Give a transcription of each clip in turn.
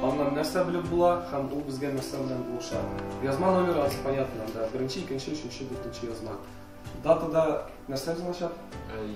Аннан нәрсә белеп була һәм ул безгә нәрсә белән булыша. Язма номеры аз понятно, анда беренче, икенче, өченче, дүртенче язма. Датада нәрсә язылачак?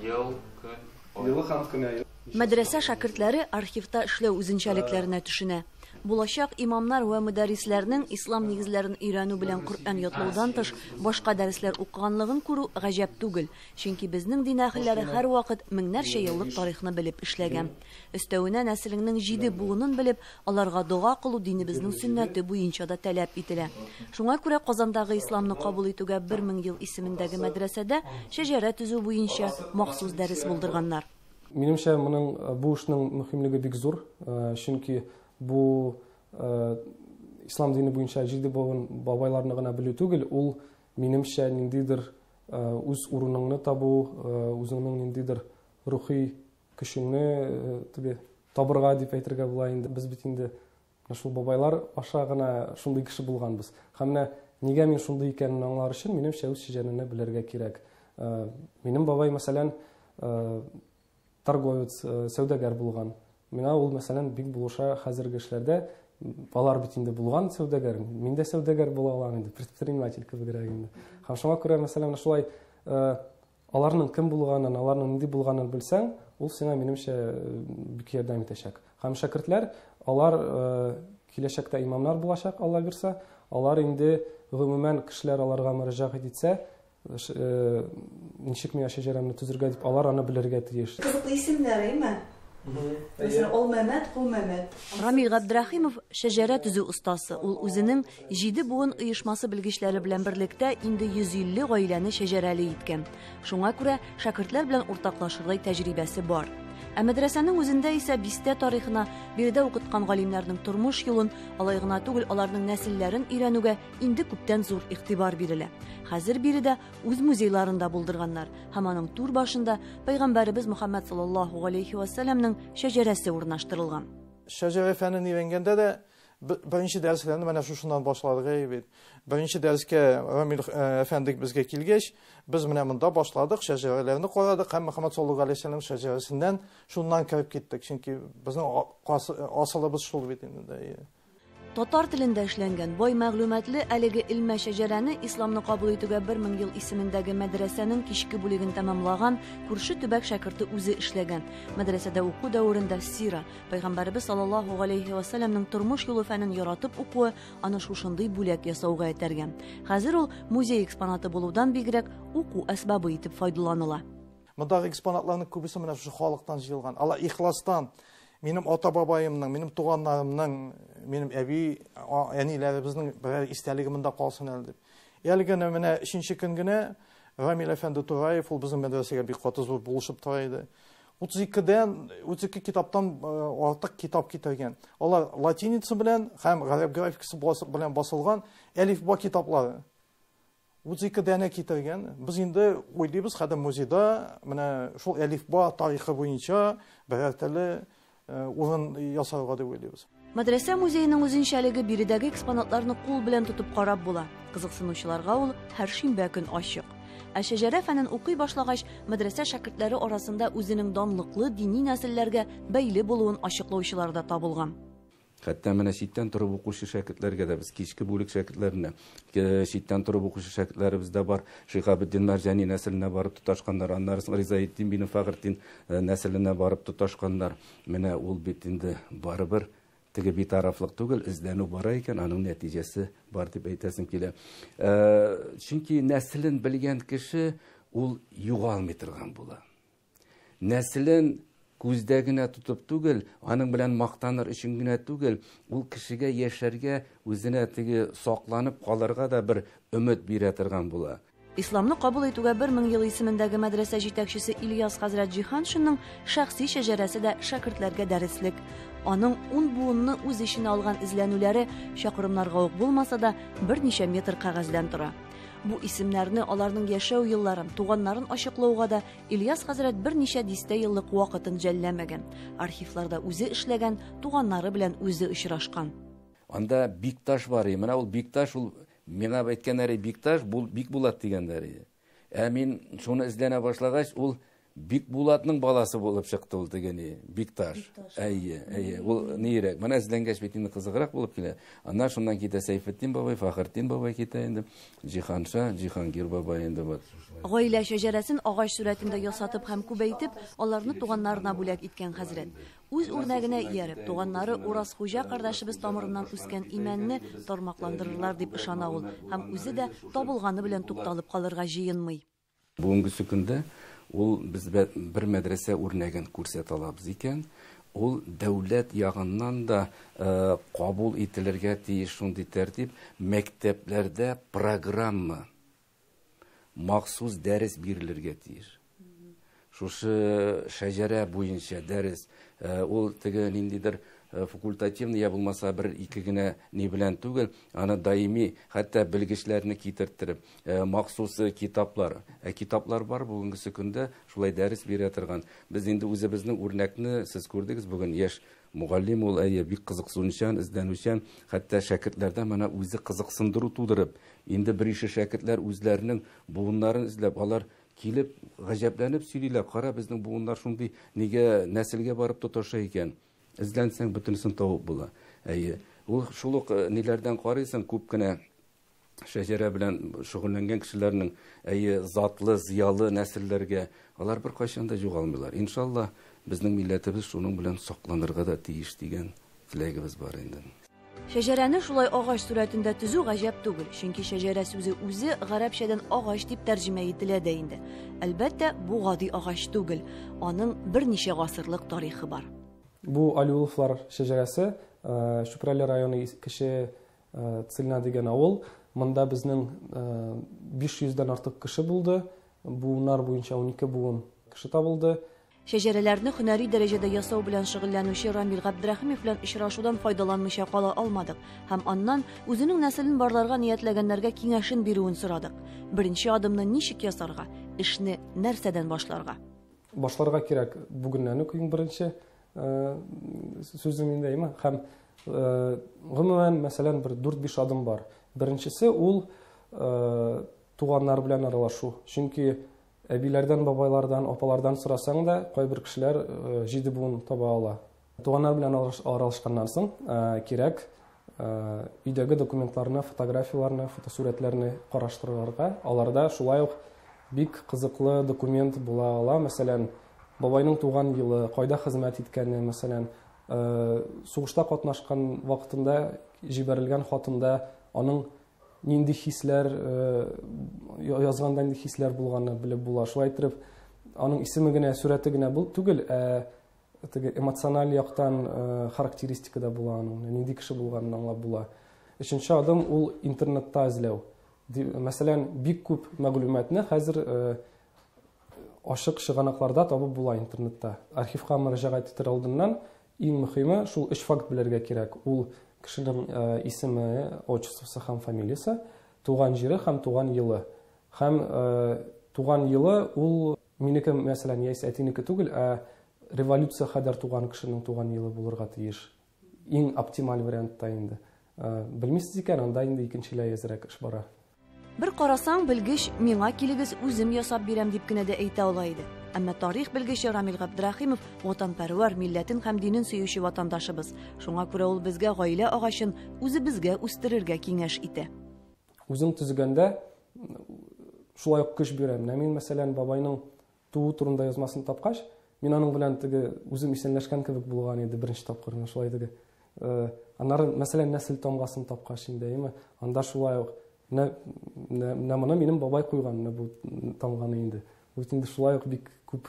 Ел, көн. Елы һәм кенә ел. Мәдрәсә шәкертләре архивта эшләү үзенчәлекләренә төшенә. Булачак имамнар вә мөдәррисләрнең ислам нигезләрен өйрәнү белән Коръән ятлаудан тыш башка дәресләр укыганлыгын күрү гаҗәп түгел, чөнки безнең дин әһелләре һәрвакыт меңнәрчә еллык тарихны белеп эшләгән. Өстәвенә нәселеңнең җиде буынын белеп, Аларга дога кылу динебезнең сөннәте буенча да таләп ителә. Шуңа күрә Казандагы исламны кабул итүгә бер мең ел исемендәге мәдрәсәдә шәҗәрә төзү буенча махсус дәрес булдырганнар. Минемчә, моның, бу эшнең мөһимлеге бик зур, чөнки бу ислам дине буенча җиде буын бабайларны гына белү түгел, ул, минемчә, ниндидер үз урыныңны табу, үзеңнең ниндидер рухи Көчеңне теге табырга дип әйтергә була инде. Без бит инде шул бабайлар аша гына шундый кеше булганбыз. Һәм менә нигә мин шундый икәнен аңлар өчен минем шәүс шиҗәнене белергә кирәк. Э, минем бабай, мәсәлән, э, торговец, э, сәүдәгәр булган. Мина ул, мәсәлән, бик булыша хәзерге эшләрдә. Алар бит инде булган сәүдәгәр. Мин дә сәүдәгәр була алам инде, предприниматель кебегрәк инде. Һәм шуңа күрә, мәсәлән, шулай Аларның кем булганын, аларның нинди булганын белсәң, ул сиңа, минемчә, бик ярдәм итәчәк. Һәм шәкертләр, алар киләчәктә имамнар булачак, Алла бирсә, алар инде гомумән кешеләр аларга мөрәҗәгать итсә, ничек миңа шәҗәрәмне төзергә дип, алар аны белергә тиеш. Кызыклы исемнәр, әйме? Мәсәлән, Олмәмәт, Колмәмәт. Рамил Габдрәхимов, шәҗәрә төзү остасы. Ул үзенең Җиде буын оешмасы белгечләре белән берлектә инде 150 гаиләне шәҗәрәле иткән. Шуңа күрә шәкертләр белән уртаклашырдай тәҗрибәсе бар. Ә мәдрәсәнең үзендә исә бистә тарихына, биредә укыткан галимнәрнең тормыш юлын, алай гына түгел, аларның нәселләрен өйрәнүгә инде күптән зур игътибар бирелә. Хәзер биредә үз музейларын да булдырганнар һәм аның түр башында пәйгамбәребез Мөхәммәд саллаллаһу галәйһи вәсәләмнең шәҗәрәсе урнаштырылган. Шәҗәрә фәнен өйрәнгәндә дә Беренче дәресләрне менә шушыннан башладык әй бит. Беренче дәрескә Рамил әфәндек безгә килгәч, без менә монда башладык, шәҗәрәләрне карадык һәм Мөхәммәд саллаллаһу алейһи вәсәлләм шәҗәрәсеннән шуннан кереп киттек, чөнки безнең асылыбыз шул бит инде. Татар телендә эшләнгән, бай мәгълүматлы әлеге элмә шәҗәрәне исламны кабул итүгә бер мең ел исемендәге мәдрәсәнең кичке бүлеген тәмамлаган күрше төбәк шәкерте үзе эшләгән. Мәдрәсәдә уку дәверендә сира, Пәйгамбәребез саллаллаһу галәйһи ва сәлләмнең тормыш юлы фәнен яратып укуы аны шушындый бүләк ясауга этәргә. Хәзер ул музей экспонаты булудан бигрәк, уку әсбабы итеп файдаланыла. Мондагы экспонатларның күбесе менә шушы халыктан җыелган. Алар ихластан минем ата-бабаемның, минем туганнарымның, минем әби, әниләребезнең берәр истәлеге монда калсын әле дип. Әле генә менә өченче көн генә Рамил әфәнде Тураев, ул безнең мәдрәсәгә бик каты зур булышып тора иде. 32 дән 32 китаптан артык китап китергән. Алар латиница белән һәм гарәп графикасы белән басылган әлифба китаплары. 32 дәне китергән. Без инде уйлыйбыз, хәзер музейда менә шул әлифба тарихы буенча берәр төрле урын ясарга дип уйлыйбыз. Мәдрәсә музееның үзенчәлеге биредәге экспонатларны кул белән тотып карап була. Кызыксынучыларга ул һәр шимбә көн ачык. Ә шәҗәрә фәнен укый башлагач, мәдрәсә шәкертләре арасында үзенең данлыклы дини нәселләргә бәйле булуын ачыклаучылар да табылган. Хәтта менә читтән торып укучы шәкертләргә дә без кичке бүлек шәкертләренә читтән торып укучы шәкертләребез дә бар. Шиһабетдин Мәрҗани нәселенә барып тоташканнар, аннары соң Ризаэддин бине Фәгыртин нәселенә барып тоташканнар. Менә ул бит инде барыбер теге битарафлык түгел, эзләнү бара икән, аның нәтиҗәсе бар дип әйтәсем килә. Э, чөнки нәселен белгән кеше ул югалмый торган була. Нәселен күздә генә тотып түгел, аның белән мактаныр өчен генә түгел, ул кешегә яшәргә, үзенә теге сакланып калырга да бер өмет бирә торган була. Исламны кабул итүгә бер мең ел исемендәге мәдрәсә җитәкчесе Ильяс хәзрәт Җиһаншинның шәхси шәҗәрәсе дә шәкертләргә дәреслек. Аның ун буынны үз эченә алган эзләнүләре чакрымнарга ук булмаса да, берничә метр кәгазьдән тора. Бу исемнәрне, аларның яшәү елларын, туганнарын ачыклауга да Ильяс хәзрәт берничә дистә еллык вакытын жәлләмәгән. Архивларда үзе эшләгән, туганнары белән үзе очрашкан. Анда Бикташ бар, менә ул Бикташ ул Миңа бәйткәннәре Бикташ, бул Бикбулат дигәннәр иде. Ә мин шуны эзләнә башлагач, ул Бикбулатның баласы булып чыкты ул тегене, Бикташ. Әйе, әйе. Ул нирәк? Менә эзләнгәч бит инде кызыграк булып килә. Аннан шуннан китә Сәйфетдин бабай, Фахыртдин бабай китә инде. Җиһанша, Җиһангир бабай инде вот. Гаилә шәҗәрәсен агач сурәтендә ясатып һәм күбәйтеп, аларны туганнарына бүләк иткән хәзрәт. Үз үрнәгенә ияреп, туганнары Уразхуҗа кардәшебез тамырыннан үскән имәнне тармакландырырлар дип ышана ул һәм үзе дә табылганы белән тукталып калырга җыенмый. Бүгенгесе көндә ул безгә бер мәдрәсә үрнәген күрсәтә алабыз икән, ул дәүләт ягыннан да кабул ителергә тиеш шундый тәртип, мәктәпләрдә программа, махсус дәрес бирелергә тиеш. Шушы шәҗәрә буенча дәрес, э, ул теге ниндидер э, факультативный я булмаса бер ике генә ни белән түгел, аны даими, хәтта белгечләрне китертереп, э, махсус китаплар. Ә китаплар бар бүгенгесе көндә шулай дәрес бирә торган. Без инде үзебезнең үрнәкне сез күрдегез бүген яшь Мугаллим ул, әйе, бик кызыксынучан, эзләнүчән, хәтта шәкертләрдә моны үзе кызыксындыру тудырып, инде берише шәкертләр үзләренең буыннарын эзләп, алар килеп, гаҗәпләнеп сөйлиләр, кара, безнең буыннар шундый, нигә нәселгә барып тоташа икән? Эзләнсәң, бөтенесен табып була. Әйе, ул шул ук ниләрдән карыйсың, күп кенә шәҗәрә белән шөгыльләнгән кешеләрнең әйе затлы, зыялы нәселләргә, алар беркайчан да югалмыйлар. Иншаллаһ, безнең милләтебез шуның белән сакланырга да тиеш дигән теләгебез бар инде. Шәҗәрәне шулай агач сурәтендә төзү гаҗәп түгел, чөнки шәҗәрә сүзе үзе гарәпчәдән агач дип тәрҗемә ителә дә инде. Әлбәттә, бу гади агач түгел, аның берничә гасырлык тарихы бар. Бу алиуловлар шәҗәрәсе Чүпрәле районы кече Цельна дигән авыл. Монда безнең 500 дән артык кеше булды. Буыннар буенча 12 буын кеше табылды. Шәҗәрәләрне һөнәри дәрәҗәдә ясау белән шөгыльләнүче Рамил Габдрәхимов белән очрашудан файдаланмыйча кала алмадык һәм аннан үзенең нәселен барларга ниятләгәннәргә киңәшен бирүен сорадык. Беренче адымны ничек ясарга, эшне нәрсәдән башларга? Башларга кирәк бүгеннән үк иң беренче. сүзем инде әйме һәм гомумән мәсәлән бер дүрт биш адым бар беренчесе ул туганнар белән аралашу чөнки әбиләрдән бабайлардан апалардан сорасаң да кайбер кешеләр җиде буын таба ала туганнар белән аралашканнан соң кирәк өйдәге документларны, фотографияләрне, фотосурәтләрне караштырырга. Аларда шулай ук бик кызыклы документ була ала. Мәсәлән, бабайның туган елы, кайда хезмәт иткәне, мәсәлән, э, сугышта катнашкан вакытында җибәрелгән хатында аның нинди хисләр э, язганда нинди хисләр булганын белеп була. Шулай итеп, аның исеме генә, сурәте генә бул түгел, ә Теге эмоциональ яктан э, характеристика да була аның, нинди кеше булганын аңлап була. Өченче адым ул интернетта эзләү. Мәсәлән, бик күп мәгълүматны хәзер э, ашык чыганакларда табып була интернетта. Архивка мөрәҗәгать итәр алдыннан иң мөһиме шул өч факт белергә кирәк. Ул кешенең э, исеме, отчествосы һәм фамилиясе, туган җире һәм туган елы. Һәм э, туган елы ул Минеке, мәсәлән, яисә әтинеке түгел, ә революция кадәр туган кешенең туган елы булырга тиеш. Иң оптималь вариантта инде. Ә, белмисез икән, анда инде икенчеләй әзрәк эш бара. Бер карасаң, белгеч, миңа килегез үзем ясап бирәм, дип кенә дә әйтә ала иде. Әмма тарих белгече Рамил Габдрәхимов ватанпәрвәр, милләтен һәм динен сөюче ватандашыбыз. Шуңа күрә ул безгә гаилә агачын үзебезгә үстерергә киңәш итә. Үзең төзегәндә шулай ук көч бирә. Менә мин, мәсәлән, бабайның туу турында язмасын тапкач, мин аның белән теге үзем исәнләшкән кебек булган иде беренче тапкыр менә шулай теге э, аннары мәсәлән нәсел тамгасын тапкач инде әйеме анда шулай ук менә моны минем бабай куйган менә бу тамганы инде бу инде шулай ук бик күп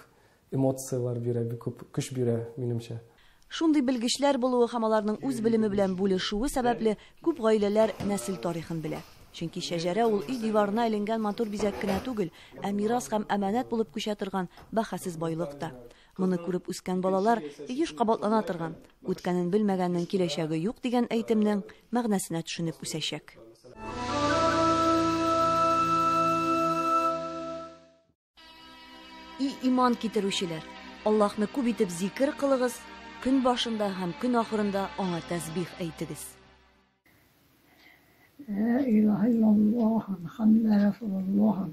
Эмоцияләр бирә, бик күп көч бирә, минемчә. Шундый белгечләр булуы һәм аларның үз белеме белән бүлешүе сәбәпле, күп гаиләләр нәсел тарихын белә. Чөнки шәҗәрә ул өй диварына эленгән матур бизәк кенә түгел, ә мирас һәм әманәт булып күчә торган бәһасез байлык та. Моны күреп үскән балалар еш кабатлана торган, Үткәнен белмәгәннең киләчәге юк дигән әйтемнең мәгънәсенә төшенеп үсәчәк. И иман китерүчеләр, Аллаһны күп итеп зикер кылыгыз, көн башында һәм көн ахырында аңа тәсбих әйтегез. Ла илаһа иллаллаһ Мухаммад расулуллаһ.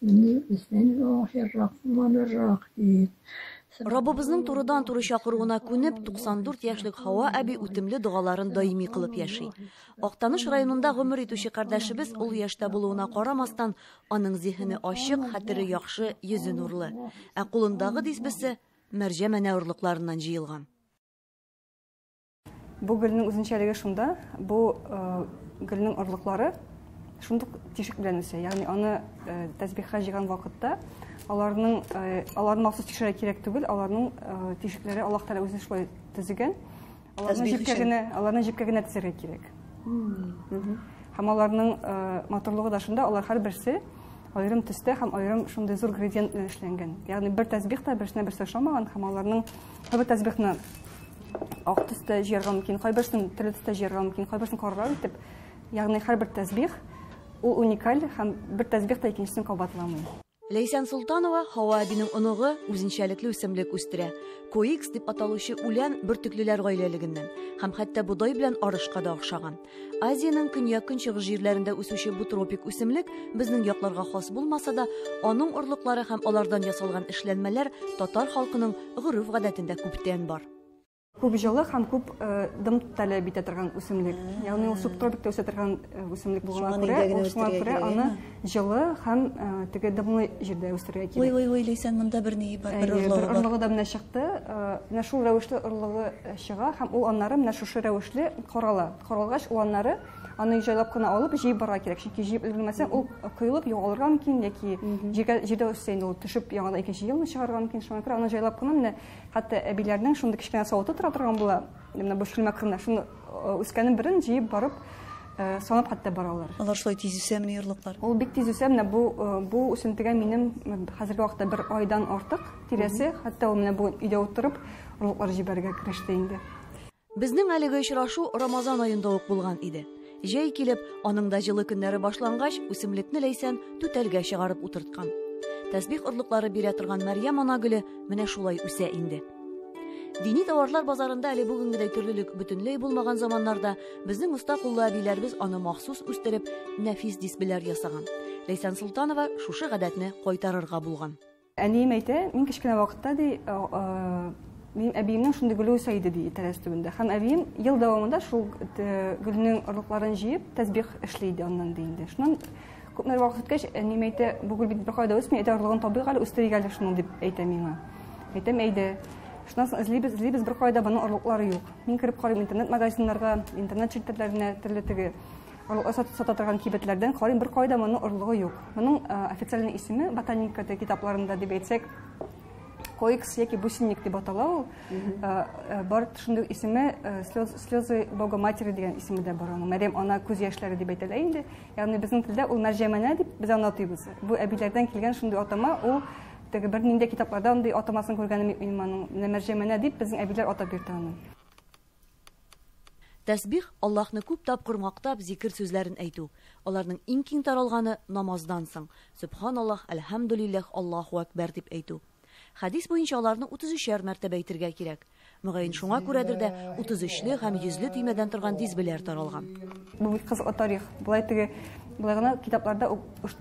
Бисмиллаһир рахманир рахим. Раббыбызның турыдан туры чакыруына күнеп, 94 яшьлек Хава әби үтемле догаларын даими кылып яши. Актаныш районында гомер итүче кардәшебез ул яшьтә булуына карамастан, Аның зиһене ачык, хәтере яхшы, йөзе нурлы. Ә кулындагы дисбесе мәрҗә мәнә орлыкларыннан җыелган. Бу гөлнең үзенчәлеге шунда, бу э, гөлнең орлыклары шундук тишек белән үсә. Ягъни аны э, тәсбихка җыйган вакытта аларның э, аларны махсус тикшерә кирәк түгел, аларның тишекләре Аллаһ Тәгалә үзе шулай төзегән. Аларны җепкә генә, аларны җепкә генә тезергә кирәк. Һәм аларның э, матурлыгы да шунда, алар һәрберсе аерым төстә һәм аерым шундый зур градиент белән эшләнгән. Ягъни бер тәсбих та берсенә берсе ошамаган һәм аларның бер тәсбихны ак төстә җыярга мөмкин, кайберсен төрле төстә җыярга мөмкин, кайберсен карарак итеп. Ягъни һәрбер тәсбих ул уникаль һәм бер тәсбих та икенчесен кабатламый. Ләйсән Солтанова Һава әбинең оныгы үзенчәлекле үсемлек үстерә. Коикс дип аталучы үлән бөртеклеләр гаиләлегеннән һәм хәтта бодай белән арышка да охшаган. Азиянең көньяк-көнчыгыш җирләрендә үсүче бу тропик үсемлек безнең якларга хас булмаса да, аның орлыклары һәм алардан ясалган эшләнмәләр татар халкының гореф-гадәтендә күптән бар. Күп җылы һәм күп дым таләп итә торган үсемлек. Ягъни ул субтропикта үсә торган үсемлек булганга күрә, шуңа күрә аны җылы һәм теге дымлы җирдә үстерергә кирәк. Ой, ой, ой, Ләйсән, монда бер ни бар, бер орлыгы бар. Бер орлыгы да менә чыкты. Менә шул рәвешле орлыгы чыга һәм ул аннары менә шушы рәвешле карала. Каралгач, ул аннары аны җайлап кына алып җыеп барырга кирәк чөнки җыеп өлгермәсәң ул коелып югалырга мөмкин яки җиргә җирдә үссә инде ул төшеп яңадан икенче елны чыгарырга мөмкин шуңа күрә аны җайлап кына менә Хәтта әбиләрнең шундый кечкенә савыты тора торган була, менә бу шүлмәк кына, шуны э, үскәнен берен җыеп барып э, санап хәтта баралар. Алар шулай тиз үсәмени ярлыклар? Ул бик тиз үсә, менә бу э, бу үсентегә минем хәзерге вакытта бер айдан артык тирәсе, хәтта ул менә бу өйдә утырып, орлыклар җибәрергә кереште инде. Безнең әлеге очрашу Рамазан аенда ук булган иде. Җәй килеп, аның да җылы көннәре башлангач, үсемлекне Ләйсән түтәлгә чыгарып утырткан. Тәсбих орлыклары бирә торган Мәрьям ана гөле менә шулай үсә инде. Дини товарлар базарында әле бүгенгедәй төрлелек бөтенләй булмаган заманнарда безнең оста куллы әбиләребез аны махсус үстереп, нәфис дисбеләр ясаган. Ләйсән Солтанова шушы гадәтне кайтарырга булган. Әнием әйтә, мин кечкенә вакытта, ди, минем әбиемнең шундый гөле үсә иде, ди, тәрәз төбендә. Һәм әбием ел дәвамында шул гөлнең орлыкларын җыеп, тәсбих эшли иде аннан, ди инде. Шуннан күпмедер вакыт үткәч, әнием әйтә, бу гөл бит беркая да үсми, әйдә орлыгын табыйк әле, үстерик әле шуны, дип әйтә миңа. Әйтәм, әйдә. Шуннан соң эзлибез, эзлибез, беркая да моның орлыклары юк. Мин кереп карыйм интернет-магазиннарга, интернет челтәрләренә, төрле теге Орлыгы сатып сата торган кибетләрдән карыйм, беркайда моның орлыгы юк. Моның э, официальный исеме ботаникада китапларында дип әйтсәк, коекс яки бусинник дип атала ул. Э, э, бар шундый исеме э, слез, слезы Бога матери дигән исеме дә бар аның. Мәрьям ана күз яшьләре дип әйтелә инде. Ягъни безнең телдә ул мәрҗәмәнә дип без аны атыйбыз. Бу әбиләрдән килгән шундый атама ул теге бер нинди китапларда андый атамасын күргәнем юк минем аның. Менә мәрҗәмәнә дип безнең әбиләр атап йөртә аны. Тәсбих, Аллаһны күп тапкыр мактап, зикер сүзләрен әйтү. Аларның иң киң таралганы, намаздан соң, Сөбханаллаһ, Әлхәмдүлилләһ, Аллаһу әкбәр дип әйтү. Хәдис буенча аларны утыз өчәр мәртәбә әйтергә кирәк. Мөгаен шуңа күрәдер дә, утыз өчле һәм йөзле төймәдән торган дисбеләр таралган. Бу бик кызыклы тарих. Болай теге, болай гына китапларда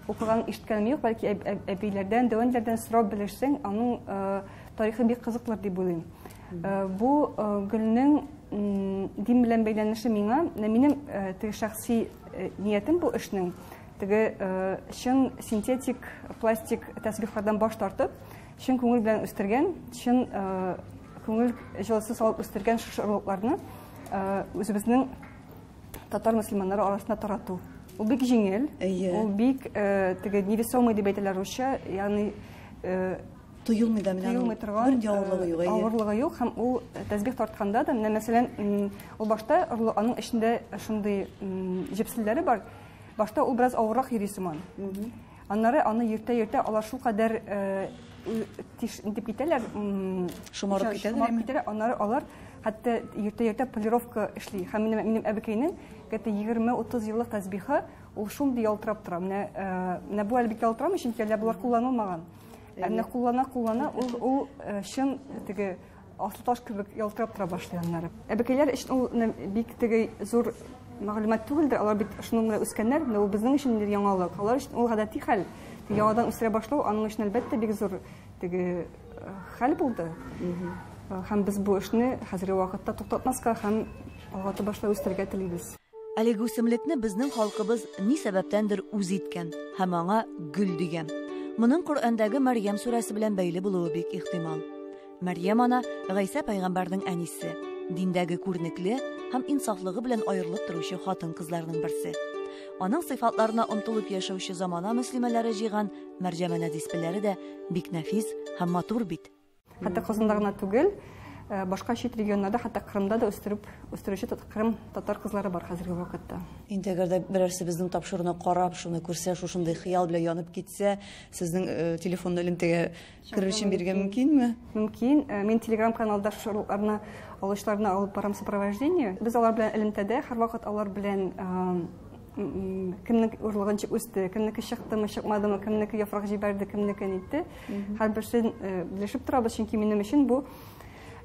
укыган, ишеткәнем юк, бәлки әб, әб, әбиләрдән, дәвәнләрдән сорап белешсәң, аның э, тарихы бик кызыклыр дип уйлыйм. Э, бу э, гөлнең дин белән бәйләнеше миңа минем э, теге шәхси ниятем бу эшнең теге чын синтетик пластик тәсбихлардан баш тартып чын күңел белән үстергән чын күңел җылысы салып үстергән шушы орлыкларны үзебезнең татар мөселманнары арасында тарату ул бик җиңел ул бик теге невесомый дип әйтәләр русча ягъни тоелмый да менә тоелмый торган бер авырлыгы э, юк әйе авырлыгы юк һәм ул э, тәсбих тартканда да менә мәсәлән ул башта аның эчендә шундый җепселләре бар башта ул бераз авыррак йөри сыман аннары аны йөртә йөртә алар шулкадәр э, тиш дип китәләр шомарып китәләр аннары алар хәтта йөртә йөртә полировка эшли һәм менә минем әбекәйнең где-то 20-30 еллык тәсбихы ул шундый ялтырап тора менә менә бу әле бик ялтырамый чөнки әле болар кулланылмаган Ә менә куллана куллана ул ул э, чын теге аслы таш кебек ялтырап тора башлый аннары. Әбекәйләр өчен ул менә бик теге зур мәгълүмат түгелдер. Алар бит шуның белән үскәннәр, менә ул безнең өчен инде яңалык. Алар өчен ул гадәти хәл. Яңадан үстерә башлау аның өчен әлбәттә бик зур теге э, хәл булды. Э, Һәм без бу эшне хәзерге вакытта туктатмаска һәм алга таба шулай үстерергә телибез. Әлеге үсемлекне безнең халкыбыз ни сәбәптәндер үз иткән һәм аңа гөл дигән. Моның Коръәндәге Мәрьям сүрәсе белән бәйле булуы бик ихтимал. Мәрьям ана Гайсә пәйгамбәрнең әнисе, диндәге күренекле һәм инсафлыгы белән аерылып торучы хатын-кызларның берсе. Аның сыйфатларына омтылып яшәүче замана мөслимәләре җыйган Мәрҗәмәнә диспеләре дә бик нәфис һәм матур бит. Хәтта Казанда гына түгел, э, башка чит регионнарда, хәтта Кырымда да үстереп, үстерүче Кырым татар кызлары бар хәзерге вакытта. Инде әгәр дә берәрсе безнең тапшыруны карап, шуны күрсә, шушындый хыял белән янып китсә, сезнең э, телефон элемтәгә керер өчен биргә мөмкинме? Мөмкин. Э, мин Telegram каналда шуларны алышларны алып барам сопровождение. Без алар белән элемтәдә, һәрвакыт алар белән э, кемнең урлыгын үсте кемнеке чыктымы чыкмадымы кемнеке яфрак җибәрде кемнеке нитте һәрберсен э, белешеп торабыз чөнки минем өчен бу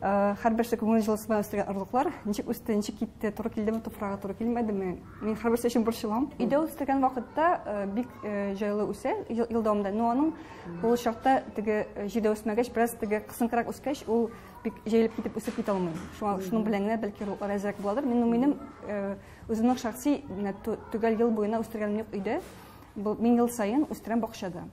э, һәрберсе күңел җылысы белән үстергән орлыклар ничек үсте ничек китте туры килдеме туфрагы туры килмәдеме мин һәрберсе өчен борчылам өйдә үстергән вакытта э, бик җайлы үсә ел дәвамында но аның ул чакта теге җирдә үсмәгәч бераз теге кысынкырак үскәч ул бик җәелеп китеп үсеп китә алмый шуның белән генә бәлки рәзрәк буладыр минем минем Үземнең шәхси менә ту- төгәл ел буена үстергәнем юк өйдә. Бу- Мин ел саен үстерәм бакчада.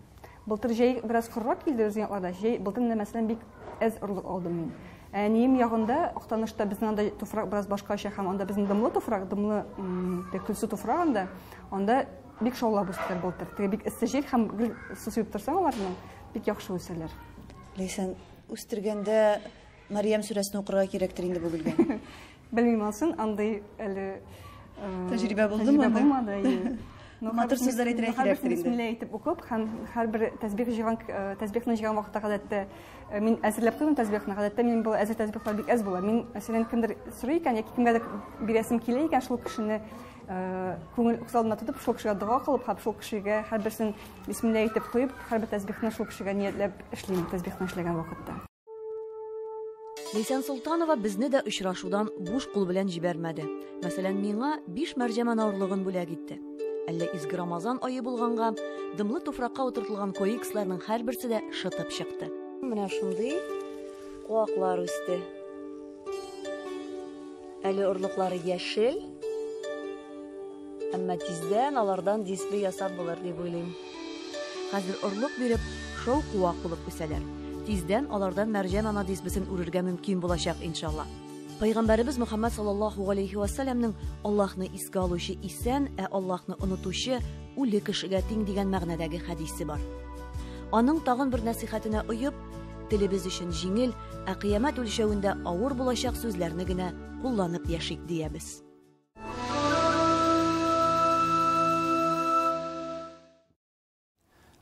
Былтыр җәй бераз корырак килде безнең якларда. Җәй былтыр менә мәсәлән бик әз орлык алдым мин. Ә Әнием ягында Актанышта безнең анда туфрак бераз башкача һәм анда безнең дымлы туфрак, дымлы м, теге көлсу туфрак анда. Анда бик шаулап үстеләр былтыр. Теге бик эссе җил һәм гел су сибеп торсаң аларны бик яхшы үсәләр. Ләйсән, үстергәндә Мариям сүрәсен укырга кирәктер инде бу гөлгә. Белмим алсын, андый әле тәҗрибә булды мо? Булмады, әйе. Матур сүзләр әйтергә кирәк инде. Бисмилла әйтеп укып һәм һәрбер тәсбих җыйган тәсбихны җыйган вакытта гадәттә мин әзерләп куйдым тәсбихны. Гадәттә мин бу әзер тәсбихлар бик әз була. Мин мәсәлән кемдер сорый икән яки кемгәдер бирәсем килә икән шул кешене күңел уксалына тотып шул кешегә дога кылып һәм шул кешегә һәрберсен бисмилла әйтеп куеп һәрбер тәсбихны шул кешегә ниятләп эшлим тәсбихны эшләгән вакытта. Ләйсән Солтанова безне дә очрашудан буш кул белән җибәрмәде. Мәсәлән, миңа биш мәрҗәмә наурлыгын бүләк итте. Әллә изге Рамазан ае булганга, дымлы туфракка утыртылган коексларның һәрберсе дә шытып чыкты. Менә шундый куаклар үсте. Әле орлыклары яшел, Әмма тиздән алардан дисплей ясап булыр дип уйлыйм. Хәзер орлык биреп, шау-куак булып үсәләр. Тиздән алардан мәрҗән ана дисплесен үрергә мөмкин булачак, иншалла. Пәйгамбәребез Мөхәммәд саллаллаһу галәйһи ва сәлләмнең Аллаһны искә алучы исән, ә Аллаһны онытучы үле кешегә тиң дигән мәгънәдәге хәдисе бар. Аның тагын бер нәсыйхәтенә оеп, телебез өчен җиңел, ә кыямәт үлчәвендә авыр булачак сүзләрне генә кулланып яшик, диябез.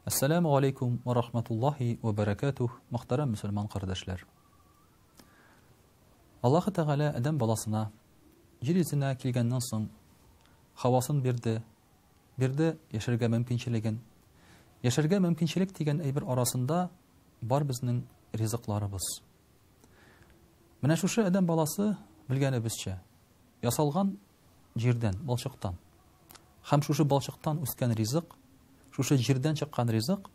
Ассаламу алейкум ва рахматуллахи ва баракатух, мөхтәрәм мусульман кардәшләр. Аллаһ Тәгалә Адәм баласына җир йөзенә килгәннән соң хавасын бирде, бирде яшәргә мөмкинчелеген. Яшәргә мөмкинчелек дигән әйбер арасында бар безнең ризыкларыбыз. Менә шушы адәм баласы белгәнебезчә, ясалган җирдән, балчыктан. Хәм шушы балчыктан үскән ризык, шушы җирдән чыккан ризык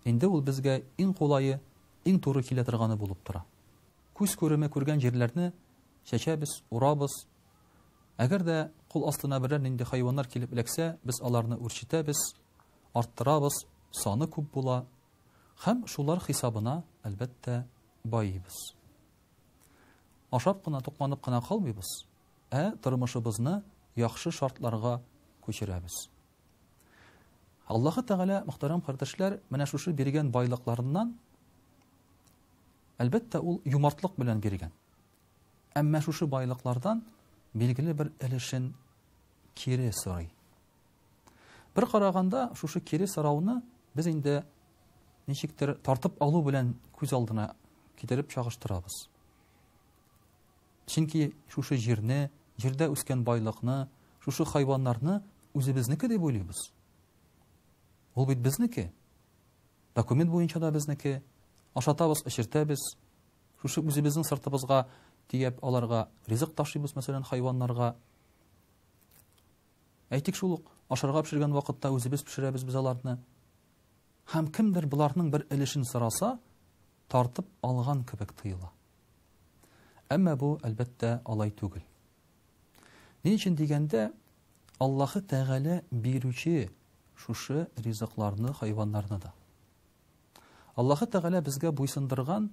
инде ул безгә иң кулае, иң туры килә торганы булып тора. Күз күреме күргән җирләрне чәчәбез, урабыз. Әгәр дә кул астына берәр нинди хайваннар килеп эләксә, без аларны үрчетәбез, арттырабыз, саны күп була, Һәм шулар хисабына, әлбәттә, байыйбыз. Ашап кына, тукланып кына калмыйбыз, ә тормышыбызны яхшы шартларга күчерәбез. Аллаһы Тәгалә, мөхтәрәм кардәшләр, менә шушы биргән байлыкларыннан, әлбәттә, ул юмартлык белән биргән. Әмма шушы байлыклардан билгеле бер өлешен кире сорый. Бер караганда, шушы кире сорауны без инде ничектер тартып алу белән күз алдына китереп чагыштырабыз. Чөнки шушы җирне, җирдә үскән байлыкны, шушы хайваннарны үзебезнеке дип уйлыйбыз. Ул бит безнеке. Документ буенча да безнеке. Ашатабыз, эчертәбез. Шушы үзебезнең сыртыбызга тиеп аларга ризык ташыйбыз, мәсәлән, хайваннарга. Әйтик шул ук, ашарга пешергән вакытта үзебез пешерәбез без аларны. Һәм кемдер боларның бер өлешен сораса, тартып алган кебек тоела. Әмма бу, әлбәттә, алай түгел. Ни өчен дигәндә, Аллаһы Тәгалә бирүче шушы ризыкларны, хайваннарны да. Аллаһы Тәгалә безгә буйсындырган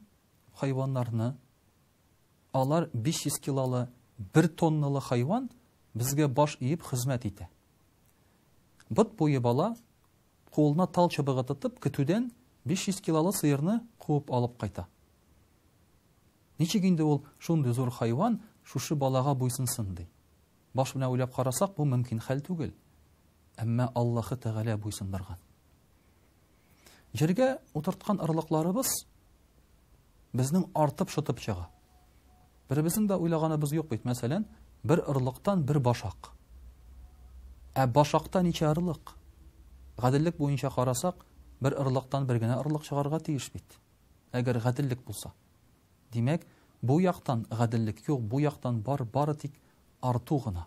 хайваннарны, Алар 500 килолы, 1 тонналы хайван безгә баш иеп хезмәт итә. Бот буе бала, кулына тал чыбыгы тотып, көтүдән 500 килолы сыерны куып алып кайта. Ничек инде ул шундый зур хайван шушы балага буйсынсын ди? Баш белән уйлап карасак, бу мөмкин хәл түгел. Әмма Аллаһы Тәгалә буйсындырган. Җиргә утырткан орлыкларыбыз безнең артып шытып чыга. Беребезнең дә уйлаганыбыз юк бит, мәсәлән, бер орлыктан бер башак. Ә башакта ничә орлык? Гаделлек буенча карасак, бер орлыктан бер генә орлык чыгарга тиеш бит. Әгәр гаделлек булса. Димәк, бу яктан гаделлек юк, бу яктан бар, бары тик арту гына.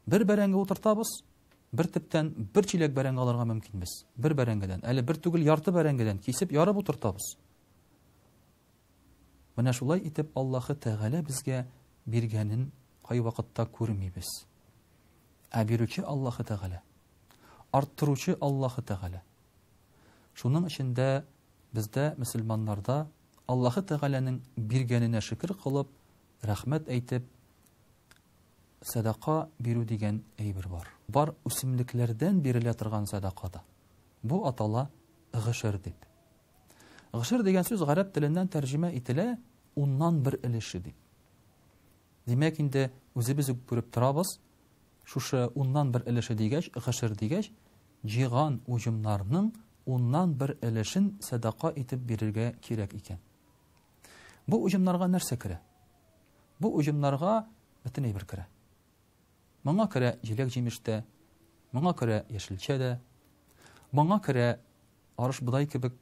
Бер бәрәңге утыртабыз, бер төптән бер чиләк бәрәңге алырга мөмкин без. Бер бәрәңгедән, әле бер түгел ярты бәрәңгедән кисеп ярып утыртабыз. Менә шулай итеп Аллаһы Тәгалә безгә биргәнен кайвакытта күрмибез. Ә бирүче Аллаһы Тәгалә, арттыручы Аллаһы Тәгалә. Шуның өчен дә бездә мөселманнарда Аллаһы Тәгаләнең биргәненә шөкер кылып, рәхмәт әйтеп, Сәдака бирү дигән әйбер бар. Бар үсемлекләрдән бирелә торган сәдака да. Бу атала гышыр дип. Гышыр дигән сүз гарәп теленнән тәрҗемә ителә уннан бер өлеше дип. Димәк инде үзебез үк күреп торабыз, шушы уннан бер өлеше дигәч, гышыр дигәч, җиган уҗымнарның уннан бер өлешен сәдака итеп бирергә кирәк икән. Бу уҗымнарга нәрсә керә? Бу оҗымнарга бөтен әйбер керә. Моңа керә җиләк-җимеш тә, моңа керә яшелчә дә, моңа керә арыш-бодай кебек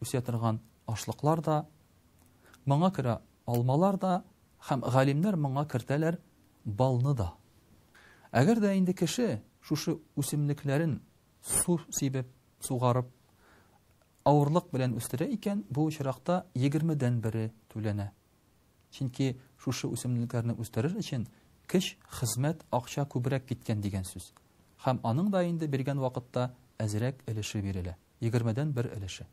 үсә торган ашлыклар да, моңа керә алмалар да һәм галимнәр моңа кертәләр балны да. Әгәр дә инде кеше шушы үсемлекләрен су сибеп, сугарып, авырлык белән үстерә икән, бу очракта егермедән бере түләнә. Чөнки шушы үсемлекләрне үстерер өчен көч, хезмәт, акча күбрәк киткән дигән сүз. Һәм аның да инде биргән вакытта әзрәк өлеше бирелә, егермедән бер өлеше.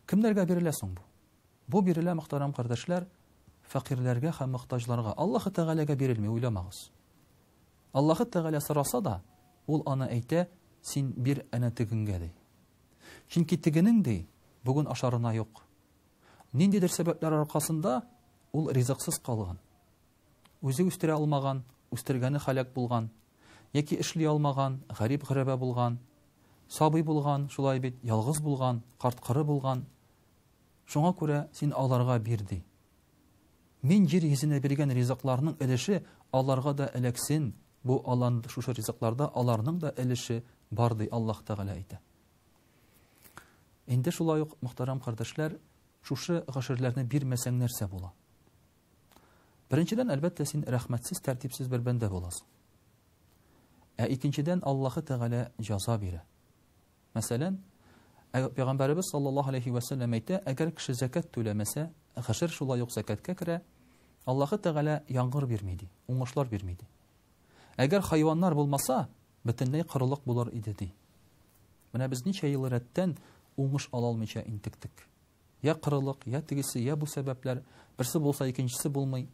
Кемнәргә бирелә соң бу? Бу бирелә, мөхтәрәм кардәшләр, фәкыйрьләргә һәм мохтаҗларга. Аллаһы Тәгаләгә бирелми, уйламагыз. Аллаһы Тәгалә сораса да, ул аны әйтә, син бир әнә тегеңгә, ди. Чөнки тегенең, ди, бүген ашарына юк, Ниндидер сәбәпләр аркасында ул ризыксыз калган. Үзе үстерә алмаган, үстергәне халәк булган, яки эшли алмаган, гарип-гырәбә булган, сабый булган, шулай бит, ялгыз булган, карт-коры булган. Шуңа күрә син аларга бир ди. Мин җир йөзенә биргән ризыкларның өлеше аларга да эләксен, бу алан шушы ризыкларда аларның да өлеше бар, ди Аллаһ Тәгалә әйтә. Инде шулай ук, мөхтәрәм кардәшләр, шушы гашерләрне бирмәсәң нәрсә була? Беренчедән, әлбәттә, син рәхмәтсез, тәртипсез бер бәндә буласың. Ә икенчедән, Аллаһы Тәгалә җаза бирә. Мәсәлән, Пәйгамбәребез саллаллаһу алейхи ва сәлләм әйтә, әгәр кеше закат түләмәсә, гашер шулай ук закаткә керә, Аллаһы Тәгалә яңгыр бирми ди, уңышлар бирми ди. Әгәр хайваннар булмаса, бөтенләй корылык булыр иде, ди. Менә без ничә ел рәттән уңыш ала алмыйча интектек. Йә корылык, йә тегесе, йә бу сәбәпләр, берсе булса, икенчесе булмый.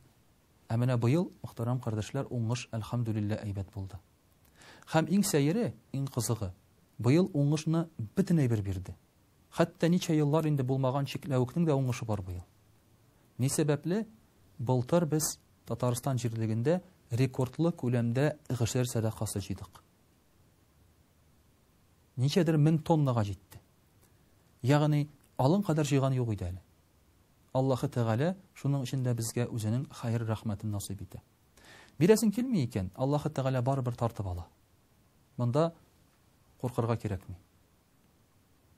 Ә менә быел, мөхтәрәм кардәшләр, уңыш, әлхәмдүлиллә, әйбәт булды. Һәм иң сәере, иң кызыгы, быел уңышны бөтен әйбер бирде. Хәтта ничә еллар инде булмаган чикләвекнең дә уңышы бар быел. Ни сәбәпле? Былтыр без Татарстан җирлегендә рекордлы күләмдә гшер сәдакасы җыйдык. Ничәдер мең тоннага җитте. Ягъни, алын кадәр җыйган юк иде әле. Аллаһы Тәгалә шуның өчен дә безгә үзенең хәер рәхмәтен насыйп итә. Бирәсең килми икән, Аллаһы Тәгалә барыбер тартып ала. Монда куркырга кирәкми.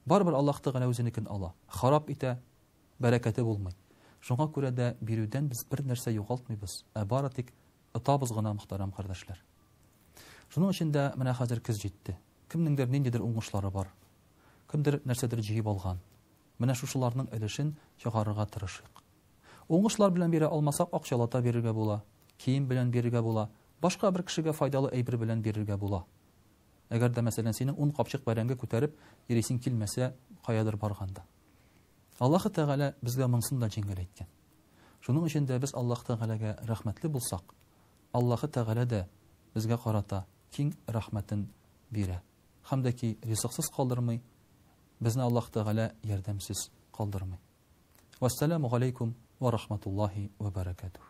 Барыбер Аллаһ Тәгалә үзенекен ала, харап итә, бәрәкәте булмый. Шуңа күрә дә бирүдән без бернәрсә югалтмыйбыз, ә бары тик отабыз гына, мөхтәрәм кардәшләр. Шуның өчен дә менә хәзер көз җитте. Кемнеңдер ниндидер уңышлары бар, кемдер нәрсәдер җыеп алган. Менә шушыларның өлешен чыгарырга тырышыйк. Уңышлар белән бирә алмасак, акчалата бирергә була, кием белән бирергә була, башка бер кешегә файдалы әйбер белән бирергә була. Әгәр дә, мәсәлән, синең ун капчык бәрәңге күтәреп йөрисең килмәсә, каядыр барганда. Аллаһы Тәгалә безгә монысын да җиңел әйткән. Шуның өчен дә без Аллаһ Тәгаләгә рәхмәтле булсак, Аллаһы Тәгалә дә безгә карата киң рәхмәтен бирә һәм дә ки ризыксыз калдырмый, безне Аллаһ Тәгалә ярдәмсез калдырмый. Вәссәламу галәйкүм вә рахматуллаһи вә бәрәкәтүһ.